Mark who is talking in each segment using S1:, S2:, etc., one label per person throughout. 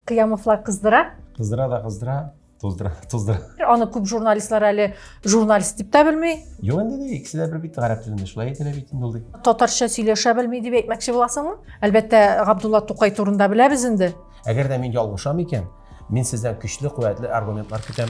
S1: Кыямовлар кыздыра. Кыздыра да кыздыра,
S2: туздыра, туздыра. Аны күп
S1: журналистлар әле журналист дип тә белми. Юк инде дә икесе дә
S2: бер бит гарәп телендә шулай әйтелә бит инде ул ди. Татарча сөйләшә
S1: белми дип әйтмәкче буласыңмы? Әлбәттә, Габдулла Тукай турында беләбез инде. Әгәр дә мин ялгышам
S2: икән, мин сездән көчле, куәтле аргументлар көтәм.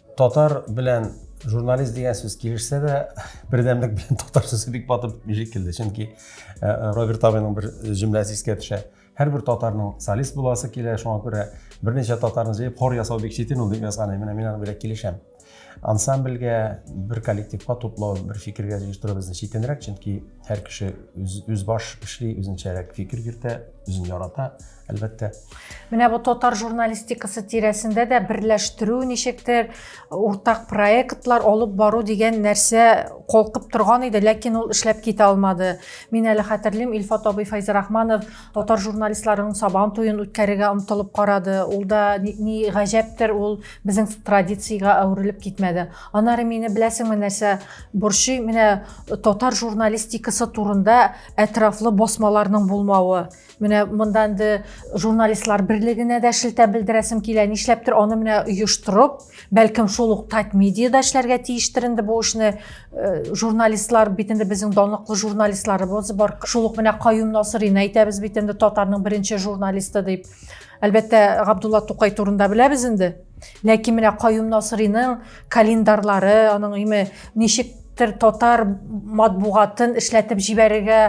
S1: Татар белән
S2: журналист дигән сүз килешсә дә, бердәмлек белән татар сүзе бик батып бишек килде. Чөнки э, э, Роберт Абиның бер җөмләсе искә төшә. Һәрбер татарның солист буласы килә, шуңа күрә берничә татарны җыеп хор ясау бик читен ул дип язган. Менә мин аны белән килешәм. Ансамбльгә бер коллективка туплау, бер фикергә җыештыру безне читенрәк, чөнки һәр кеше үз, үз баш эшли, үзенчәрәк фикер йөртә, үзен ярата, әлбәттә. Менә бу
S1: татар журналистикасы тирәсендә дә берләштерү ничектер, уртак проектлар алып бару дигән нәрсә калкып торган иде, ләкин ул эшләп китә алмады. Мин әле хәтерлим, Илфат абый Файзрахманов татар журналистларының сабан туен үткәрергә омтылып карады. Ул да ни, ни гаҗәптер, ул безнең традициягә әверелеп китмәде. Анары мине беләсеңме нәрсә борчый? Менә татар журналистикасы турында әтрафлы басмаларның булмавы. Менә монда инде журналистлар берлегенә дә шелтә белдерәсем килә. Нишләптер аны менә оештырып, бәлкем шул ук Тать медиада эшләргә тиештер инде бу эшне. Э, журналистлар бит инде безнең данлыклы журналистларыбыз бар. Шул ук менә Каюм Насырина әйтәбез бит инде татарның беренче журналисты дип. Әлбәттә, Габдулла Тукай турында беләбез инде. Ләкин менә Каюм Насырыйның календарьлары, аның име ничек татар матбугатын эшләтеп җибәрергә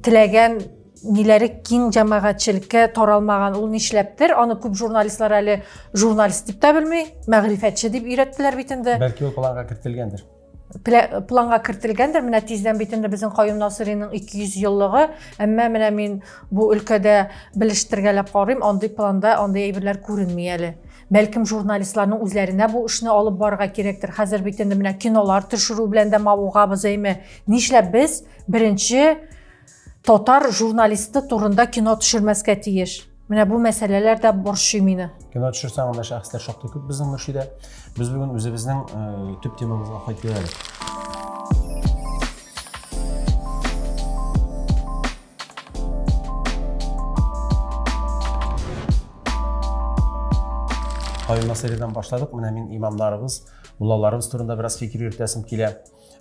S1: теләгән ниләре киң җәмәгатьчелеккә таралмаган ул нишләптер аны күп журналистлар әле журналист дип тә белми мәгърифәтче дип өйрәттеләр бит инде бәлки ул планга кертелгәндер
S2: планга
S1: кертелгәндер менә тиздән бит инде безнең каюм насыйриның 200 еллыгы әмма менә мин бу өлкәдә белештергәләп карыйм андый планда андый әйберләр күренми әле бәлкем журналистларның үзләренә бу эшне алып барырга кирәктер хәзер бит инде менә кинолар төшерү белән дә мавыгабыз әйме нишләп без беренче Татар журналисты турында кино төшермәскә тиеш. Менә бу мәсьәләләр дә борчый мине. Кино төшерсәң, анда
S2: шәхесләр шактый күп безнең Мөршидә. Без бүген үзебезнең э, төп темабызга кайтып әле. Кайын мәсьәләдән башладык. Менә мин имамнарыбыз, муллаларыбыз турында бераз фикер йөртәсем килә.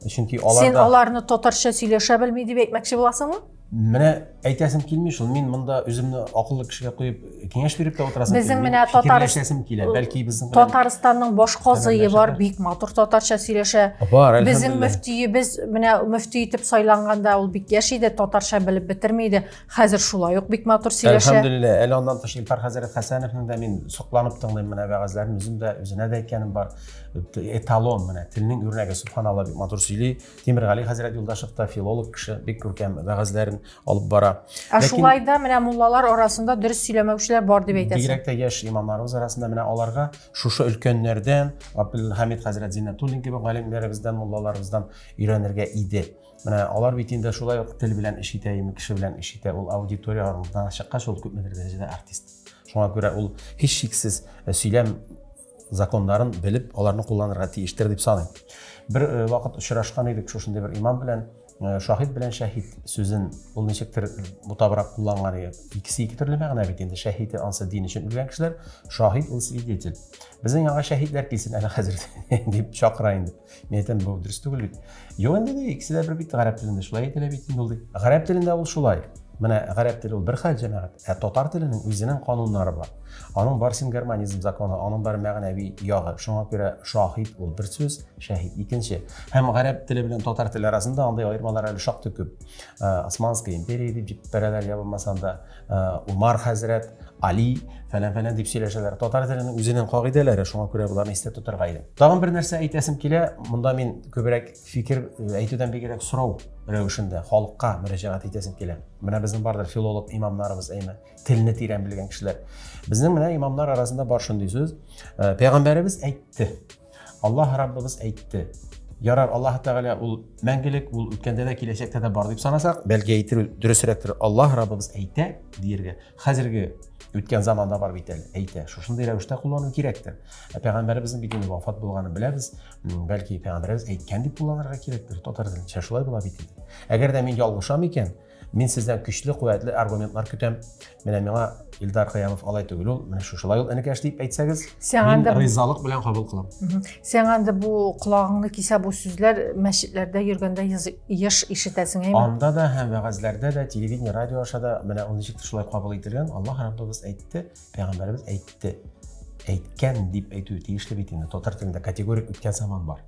S2: чөнки аларда сен аларны татарча
S1: сөйләшә белми дип әйтмәкче буласыңмы менә
S2: әйтәсем килми шул мин монда үземне акыллы кешегә куеп киңәш биреп тә утырасым безнең менә татарстан
S1: килә бәлки
S2: безнең татарстанның баш
S1: казые бар бик матур татарча сөйләшә бар безнең мөфтиебез менә мөфти итеп сайланганда ул бик яшь иде татарча белеп бетерми иде хәзер шулай ук бик матур сөйләшә әлхәмдулилла әле аннан тыш
S2: илфар хәзрәт хәсәновның да мин сокланып тыңлыйм менә вәгазьләрен үзем дә үзенә дә әйткәнем бар эталон менә телнең үрнәге субханалла бик матур сөйли тимергали хәзрәт юлдашев та филолог кеше бик күркәм вәгазьләрен алып бара ә шулай да менә
S1: муллалар арасында дөрес сөйләмәүчеләр бар дип әйтәсең бигрәк тә яшь имамнарыбыз
S2: арасында менә аларга шушы өлкәннәрдән абдулхамид хәзрәт зиннәтуллин кебек галимнәребездән муллаларыбыздан өйрәнергә иде менә алар бит инде шулай ук тел белән эш итә ими кеше белән эш итә ул аудитория алдына чыккач ул күпмедер дәрәҗәдә артист шуңа күрә ул һичшиксез сөйләм законнарын белеп, аларны кулланырга тиештер дип саныйм. Бер э, вакыт очрашкан идек шушындый бер имам белән, э, шаһид белән шәһид сүзен ул ничектер э, бутабрак кулланган иде. Икесе ике төрле мәгънә бит инде. Шәһид ансы дин өчен үлгән кешеләр, шаһид ул свидетель. Безнең яңа шәһидләр килсен әле хәзер дип чакыра инде. Мин әйтәм, бу дөрес түгел бит. Юк инде ди, икесе дә бер бит, гарәп телендә шулай әйтелә бит инде ул ди. Гарәп телендә ул шулай. Менә гарәп теле ул бер хәл җәмәгать, ә татар теленең үзенең кануннары бар. Аның бар сингармонизм законы, аның бар мәгънәви ягы. Шуңа күрә шаһид ул бер сүз, шәһид икенче. Һәм гарәп теле белән татар теле арасында андый аермалар әле шактый күп. Ә, Османская империя дип җип бәрәләр ябылмасам да, Умар хәзрәт, Али, фәлән фәлән дип сөйләшәләр. Татар теленең үзенең кагыйдәләре, шуңа күрә боларны истә тотарга иде. Тагын бер нәрсә әйтәсем килә, монда мин күбрәк фикер әйтүдән бигрәк сорау рәвешендә халыкка мөрәҗәгать итәсем килә. Менә безнең бардыр филолог имамнарыбыз, әйме, телне тирән белгән кешеләр. Безнең менә имамнар арасында бар шундый сүз. Пәйгамбәребез әйтте. Аллаһ Раббыбыз әйтте. Ярар, Аллаһ Тәгалә ул мәңгелек, ул үткәндә дә, киләчәктә дә бар дип санасак, бәлки әйтер дөресрәктер, Аллаһ Раббыбыз әйтә диергә. Хәзерге үткән заманда бар бит әле, әйтә. Шушындый рәвештә куллану кирәктер. Ә пәйгамбәребезнең бит инде вафат булганын беләбез. Бәлки пәйгамбәребез әйткән дип кулланырга кирәктер. Татар телендә шулай була бит. Әгәр дә мин ялгышам икән, Мин сездән көчле, куәтле аргументлар көтәм. Менә миңа Илдар Кыямов алай түгел ул, менә шушылай ул энекәш дип әйтсәгез, мин ризалык белән кабул кылам. Сен анда бу
S1: колагыңны кисә бу сүзләр мәчетләрдә йөргәндә еш ишетәсең әйме? Анда да һәм вәгазьләрдә
S2: дә, телевидение, радио аша да менә ул ничек шулай кабул ителгән, Аллаһ Раббыбыз әйтте, пәйгамбәребез әйтте әйткән дип әйтү тиешле бит инде татар телендә категорик үткән заман бар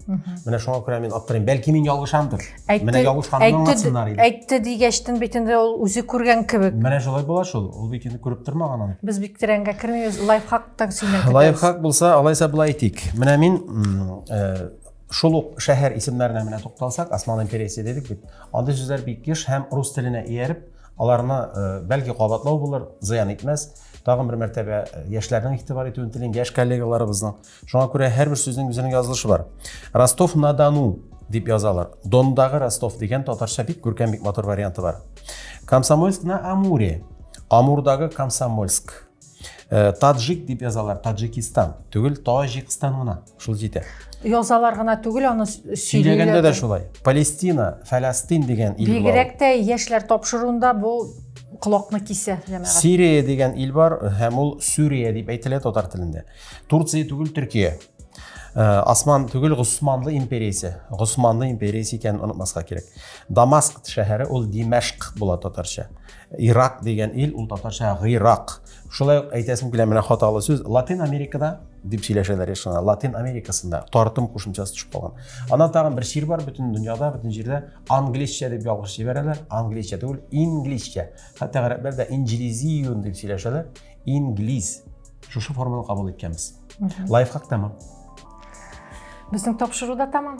S2: менә шуңа күрә мин аптырыйм бәлки мин ялгышамдыр менә ялгышканымны аңлатсыннар иде әйтте дигәчтен бит
S1: инде ул үзе күргән кебек менә шулай була шул
S2: ул бит инде күреп тормаган аны без бик тирәнгә кермибез
S1: лайфхактан сөйләп лайфхак булса алайса
S2: былай әйтик менә мин э, шул ук шәһәр исемнәренә менә тукталсак осман империясе дедек бит андый сүзләр бик еш һәм рус теленә ияреп Аларны, бәлки, кабатлау булыр, зыян итмәс. Тагын бер мәртәбә яшьләрнең игътибар итүен телим, яшь коллегаларыбызның. Шуңа күрә һәрбер сүзнең үзенең язылышы бар. Ростов-на-Дону дип язалар. Дондагы Ростов дигән татарча бик күркәм, бик матур варианты бар. Комсомольск на Амуре. Амурдагы Комсомольск. Э, таджик дип язалар таджикистан түгел таҗикстан гына шул җитә язалар гына
S1: түгел аны сөйләгәндә дә шулай
S2: палестина фәләстин дигән ил бигрәк тә яшьләр
S1: тапшыруында бу колакны кисә җәмәгать сирия дигән ил
S2: бар һәм ул сүрия дип әйтелә татар телендә турция түгел төркия э, Асман түгел Госманлы империясе. Госманлы империясе икәнен онытмаска кирәк. Дамаск шәһәре ул Димәшк була татарча. Ирак дигән ил, ул татарча Гыйрак. Шулай ук әйтәсем килә менә хаталы сүз. Латин Америкада дип сөйләшәләр яшена. Латин Америкасында тартым кушымчасы төшеп калган. Ана тагын бер чир бар бөтен дөньяда, бөтен җирдә англичча дип ялгыш җибәрәләр. Англичча түгел, ингличча. Хәтта гарәпләр дә инҗлизиюн дип сөйләшәләр. Инглиз. Шушы форманы кабул иткәнбез. Лайфхак тәмам.
S1: Безнең тапшыру да тәмам.